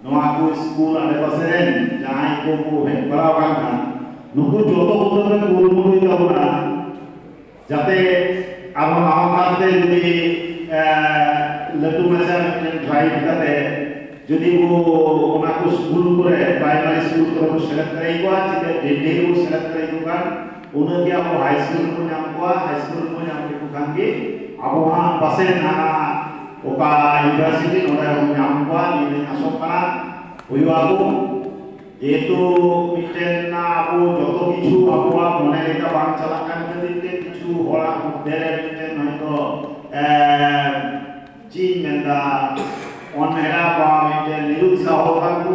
ᱱᱚᱣᱟ ᱠᱚ ᱥᱠᱩᱞ ᱟᱰᱮᱯᱟᱥᱮ ᱨᱮᱱ ᱡᱟᱦᱟᱸᱭ ᱠᱚ ᱠᱚ ᱦᱮᱡ ᱵᱟᱲᱟ ᱟᱠᱟᱱ ᱠᱷᱟᱱ ᱱᱩᱠᱩ ᱡᱚᱛᱚ ᱠᱚᱫᱚ ᱯᱮ ᱠᱩᱨᱩᱢᱩᱴᱩᱭ ᱛᱟᱵᱚᱱᱟ ᱡᱟᱛᱮ ᱟᱨᱦᱚᱸ ᱱᱟᱣᱟ ᱠᱟᱨᱛᱮ ᱡᱩᱫᱤ ᱞᱟᱹᱴᱩ ᱢᱟᱪᱷᱟ ᱢᱤᱫᱴᱮᱱ ᱰᱨᱟᱭᱤᱵᱷ ᱠᱟᱛᱮ ᱡᱩᱫᱤ ᱠᱚ ᱚᱱᱟ ᱠᱚ ᱥᱠᱩᱞ ᱠᱚᱨᱮ ᱯᱨᱟᱭᱢᱟᱨᱤ ᱥᱠᱩᱞ ᱠᱚᱨᱮ ᱠᱚ ᱥᱮᱞᱮᱫ ᱫᱟᱲᱮᱭᱟᱠᱚᱣᱟ ᱪᱮᱫᱟᱜ ᱰᱷᱮᱨ ᱰᱷᱮᱨ ᱠᱚ ᱥᱮᱞᱮᱫ ᱫᱟᱲᱮᱭᱟᱠᱚ ᱠᱷᱟᱱ ᱩᱱᱟᱹᱜ ᱜᱮ ᱟᱵᱚ ᱦᱟᱭ ᱥᱠᱩᱞ ᱨᱮᱵᱚ ᱧᱟᱢ ᱠᱚᱣᱟ ᱦᱟᱭ ᱥᱠᱩᱞ ᱨᱮᱵᱚ ᱧᱟᱢ ᱞᱮᱠᱚ ᱠᱷᱟᱱ ᱜᱮ ᱟᱵᱚ ᱦᱟᱸᱜ ᱯᱟᱥᱮᱡ ᱦᱟᱱᱟ ᱚᱠᱟ ᱤᱭᱩᱱᱤᱵᱷᱟᱨᱥᱤᱴᱤ ᱱᱚᱰᱮ ᱵᱚᱱ ᱧᱟᱢ ᱠᱚᱣᱟ ᱱᱤᱭᱟᱹ ᱫᱚᱧ ᱟᱥᱚᱜ ᱠᱟᱱᱟ ᱦᱩᱭᱩᱜᱼᱟ ᱠᱚ ᱡᱮᱦᱮᱛᱩ ᱢᱤᱫᱴᱮᱱ ᱟᱵᱚ ᱡᱚᱛᱚ ᱠᱤᱪᱷᱩ ᱟᱵᱚᱣᱟᱜ ᱢᱚᱱᱮ ᱞᱮᱠᱟ ᱵᱟᱝ ᱪᱟᱞᱟᱜ ᱠᱟᱱ ᱠᱷᱟᱹᱛᱤᱨ ᱛᱮ ᱠᱤᱪᱷᱩ ᱦᱚᱲᱟᱜ ᱢᱚᱫᱽᱫᱷᱮ ᱨᱮ ᱢᱤᱫᱴᱮᱱ ᱦᱚᱭᱛᱳ ᱪᱮᱫ ᱤᱧ ᱢᱮᱱᱫᱟ ᱚᱱᱦᱮᱲᱟ ᱵᱟ ᱢᱤᱫᱴᱮᱱ ᱱᱤᱨᱩᱛᱥᱟᱦᱚ ᱠᱟᱱ ᱠᱚ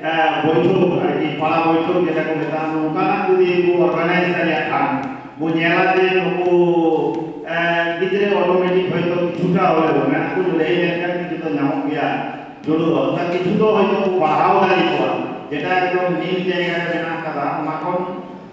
ᱵᱳᱭᱴᱷᱚᱠ ᱟᱨᱠᱤ ᱯᱟᱲᱟ ᱵᱳᱭᱴᱷᱚᱠ ᱡᱮᱴᱟ ᱠᱚ ᱢᱮᱛᱟᱜᱼᱟ ᱱᱚᱝᱠᱟᱱᱟᱜ ᱡᱩᱫᱤ ᱠᱚ ᱚᱨᱜᱟᱱᱟᱭᱤᱡᱽ ᱫᱟᱲᱮᱭᱟᱜ ᱠᱷᱟᱱ ᱵᱚ ᱧᱮᱞᱟ ᱡᱮ ᱱᱩᱠᱩ ᱜᱤᱫᱽᱨᱟᱹ ᱚᱴᱳᱢᱮᱴᱤᱠ ᱦᱚᱭᱛᱳ ᱠᱤᱪᱷᱩᱴᱟ ᱦᱚᱞᱮ ᱢᱮᱱᱟᱜ ᱠᱚ ᱞᱟᱹᱭ ᱞᱮᱱᱠᱷᱟᱱ ᱠᱤᱪᱷᱩ ᱫᱚ ᱧᱟᱢᱚᱜ ᱜᱮᱭᱟ ᱡᱩᱲᱩᱣᱟ ᱚᱱᱟ ᱠᱤᱪᱷᱩ ᱫᱚ ᱦᱚᱭᱛᱳ ᱠᱚ ᱯᱟᱲᱦᱟᱣ ᱫᱟᱲᱮ ᱠᱚᱣᱟ ᱡᱮᱴᱟ ᱮᱠᱫᱚᱢ ᱱᱤᱢ ᱡᱟᱭᱜᱟ ᱨᱮ ᱢᱮᱱᱟᱜ ᱠᱟᱫᱟ ᱚᱱᱟ ᱠᱷᱚᱱ